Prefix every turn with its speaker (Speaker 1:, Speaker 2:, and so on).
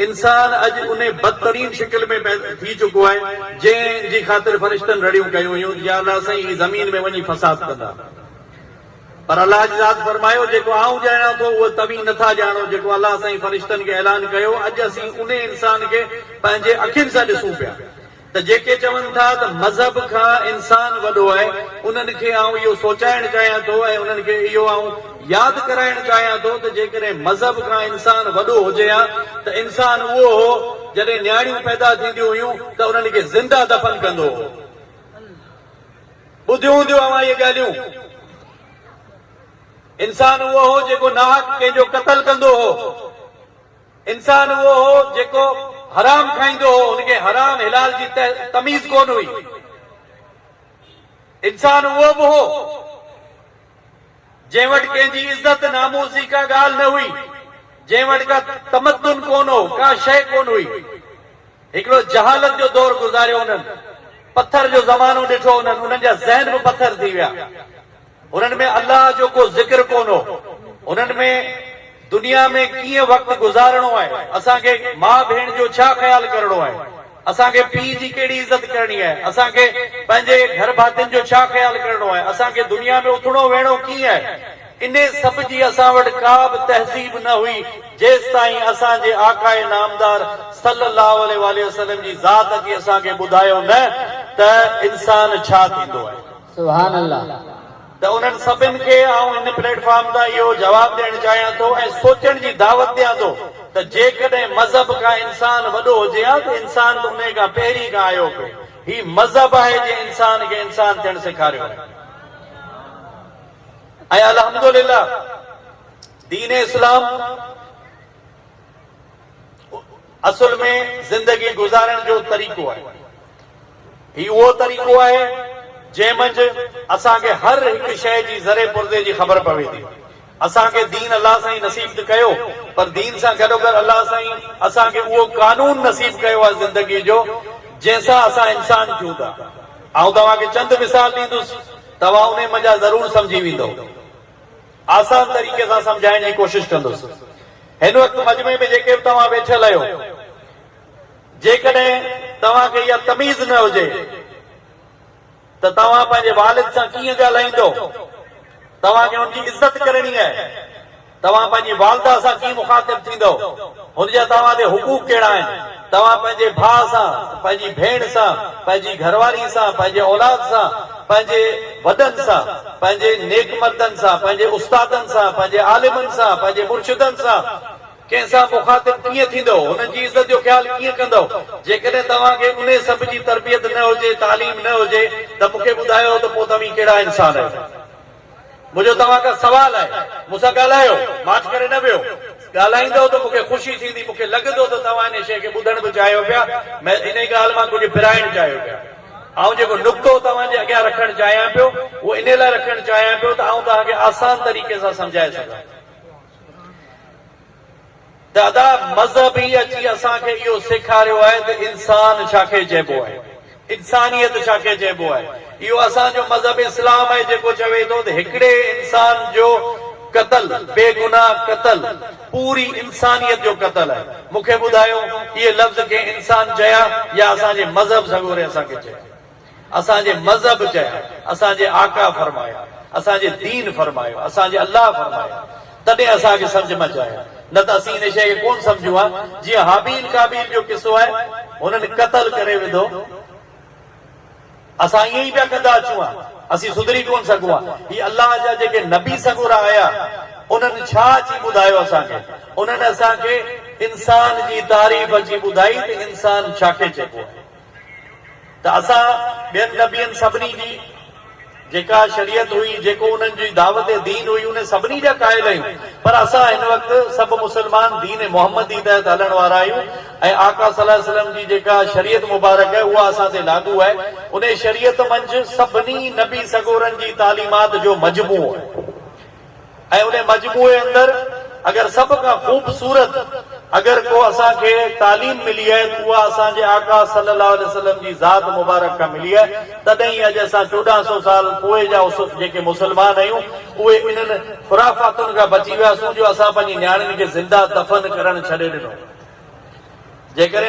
Speaker 1: انسان اڄ انهي بدترين شڪل ۾ پيدا ٿي چڪو آهي، جنهن جي خاطر فرشتن رڙيون ڪيون هيون ته يا الله سائين هي زمين ۾ وڃي فساد ڪندا. پر الله جي ذات فرمايو، جيڪو آئون ڄاڻان ٿو اهو توهين نه ٿا ڄاڻو جيڪو الله سائين فرشتن کي اعلان ڪيو، اڄ اسين انهي انسان کي پنهنجي اکين سان ڏسون پيا. ته جيڪي چون ٿا ته مذهب کان انسان وڏو آهي انهن کي آئون اهو سوچائڻ چاهيان ٿو ۽ انهن کي اهو آئون ياد ڪرائڻ چاهيان ٿو ته جيڪڏهن مذهب کان انسان وڏو هجي ها ته انسان اهو هو جڏهن نياڻيون پيدا ٿينديون هيون ته انهن کي زنده دفن ڪندو هو ٻڌيون هونديون اوهان اهي ڳالهيون انسان اهو هو جيڪو ناحق ڪنهن جو قتل ڪندو هو. انسان اهو هو جيڪو حرام کائيندو هو، هن کي حرام حلال جي تميز ڪونه هئي. انسان اهو به هو جنهن وٽ ڪنهن جي عزت ناموس جي ڪا ڳالهه نه هئي، جنهن وٽ ڪا تمدن ڪونه هو، ڪا شيء ڪونه هئي. هڪڙو جهالت جو دور گذاريو انهن، پٿر جو زمانو ڏٺو انهن، انهن جا ذهن به پٿر ٿي ويا. انهن ۾ الله جو ڪو ذڪر ڪونه هو. انهن ۾ دنيا ۾ ڪيئن وقت گذارڻو آهي، اسان کي ماء ڀيڻ جو ڇا خيال ڪرڻو آهي، اسان کي پيء جي ڪهڙي عزت ڪرڻي آهي، اسان کي پنهنجي گهر ڀاتين جو ڇا خيال ڪرڻو آهي، اسان کي دنيا ۾ اٿڻو ويهڻو ڪيئن آهي، انهي سڀ جي اسان وٽ ڪا به تهذيب نه هئي، جيستائين اسان جي آقاء نامدار صلّي اللّٰه عليه واٰله وسلّم جي ذات اچي اسان کي ٻڌايو نه ته انسان ڇا ٿيندو آهي. سبحان الله.
Speaker 2: ته انهن
Speaker 1: سڀن کي آئون هن پليٽ فارم تان اهو جواب ڏيڻ چاهيان ٿو ۽ سوچڻ جي دعوت ڏيان ٿو ته جيڪڏهن مذهب کان انسان وڏو هجي ها ته انسان ته انهي کان پهرين کان آيو پئي هي مذهب آهي جنهن انسان کي انسان ٿيڻ سيکاريو آهي ۽ الحمدلله دين اسلام اصل ۾ زندگي گذارڻ جو طريقو آهي. هي اهو طريقو آهي جنهن منجهه اسان کي هر هڪ شيء جي ذري پرزي جي خبر پوي ٿي. اسان کي دين الله سائين نصيب ته ڪيو پر دين سان گڏوگڏ الله سائين اسان کي اهو قانون نصيب ڪيو آهي زندگي جو جنهن سان اسان انسان ٿيون ٿا. آئون توهان کي چند مثال ڏيندس توهان انهي منجهه ضرور سمجهي ويندؤ. آسان طريقي سان سمجهائڻ جي ڪوشش ڪندس. هن وقت مجمعي ۾ جيڪي به توهان ويٺل اهيو، جيڪڏهن توهان کي اها تميز نه هجي ته توهان پنهنجي والد سان ڪيئن ڳالهائيندو، توهان کي ان جي عزت ڪرڻي آهي، توهان پنهنجي والده سان ڪيئن مخاطب ٿيندو، هن جا توهان تي حقوق ڪهڙا آهن؟ توهان پنهنجي ڀاء سان، پنهنجي ڀيڻ سان، پنهنجي گهر واري سان، پنهنجي اولاد سان، پنهنجي وڏن سان، پنهنجي نيڪ مردن سان، پنهنجي استادن سان، پنهنجي عالمن سان، پنهنجي مرشدن سان، ڪنهن سان مخاطب ڪيئن ٿيندؤ، هنن جي عزت جو خيال ڪيئن ڪندؤ؟ جيڪڏهن توهان کي انهي سڀ جي تربيت نه هجي، تعليم نه هجي ته مون کي ٻڌايو ته پوء توهين ڪهڙا انسان آهيو؟ منهنجو توهان کان سوال آهي، مون سان ڳالهايو، ماٺ ڪري نه ويهو. ڳالهائيندؤ ته مون کي خوشي ٿيندي، مون کي لڳندو ته توهان انهيء شيء کي ٻڌڻ به چاهيو پيا، مئن انهيء ڳالهه مان ڪجهه پرائڻ چاهيو پيا. آئون جيڪو نقطو توهان جي اڳيان رکڻ چاهيان پيو، اهو انهيء لاء رکڻ چاهيان پيو ته آئون توهان کي آسان طريقي سان سمجهائي سگهان. دادا مذهب ئي اچي اسان کي اهو سيکاريو آهي ته انسان ڇا کي چئبو آهي، انسانيت ڇا کي چئبو آهي. اهو اسان جو مذهب اسلام آهي جيڪو چوي ٿو ته هڪڙي انسان جو قتل، بي گناهه قتل پوري انسانيت جو قتل آهي. مون کي ٻڌايو اهي لفظ ڪنهن انسان چيا يا اسان جي مذهب سڳوري اسان کي چيا. اسان جي مذهب چيا، اسان جي آقا فرمايا، اسان جي دين فرمايو، اسان جي الله فرمايو، تڏهن اسان کي سمجهه مچ آيو، نه ته اسين ان شيء کي ڪونه سمجهون ها، جيئن هابيل قابيل جو قصو آهي، هنن قتل ڪري وڌو، اسان ائين ئي پيا ڪندا اچون ها، اسين سڌري ڪونه سگهون ها، هي الله جا جيڪي نبي سڳورا آيا، انهن ڇا اچي ٻڌايو اسان کي؟ انهن اسان کي انسان جي تعريف اچي ٻڌائي ته انسان ڇا کي چئبو آهي. ته اسان ٻين نبين سڀني جي جيڪا شريعت هئي جيڪو انهن جي دعوت دين هئي انهي سڀني جا قائل آهيون پر اسان هن وقت سڀ مسلمان دين محمدي تحت هلڻ وارا آهيون ۽ آقا صلي الله عليه وسلم جي جيڪا شريعت مبارڪ آهي اها اسان تي لاڳو آهي انهي شريعت منجهه سڀني نبي سڳورن جي تعليمات جو مجموعو آهي ۽ انهي مجموعي اندر اگر سڀ کان خوبصورت اگر ڪو اسان کي تعليم ملي آهي ته اها اسان جي آقا صلي الله عليه وسلم جي ذات مبارڪ کان ملي آهي تڏهن ئي اڄ اسان چوڏهن سو سال پوء جا جيڪي مسلمان آهيون اهي انهن خرافاتن کان بچي وياسون جو اسان پنهنجي نياڻين کي زنده دفن ڪرڻ ڇڏي ڏنو جيڪڏهن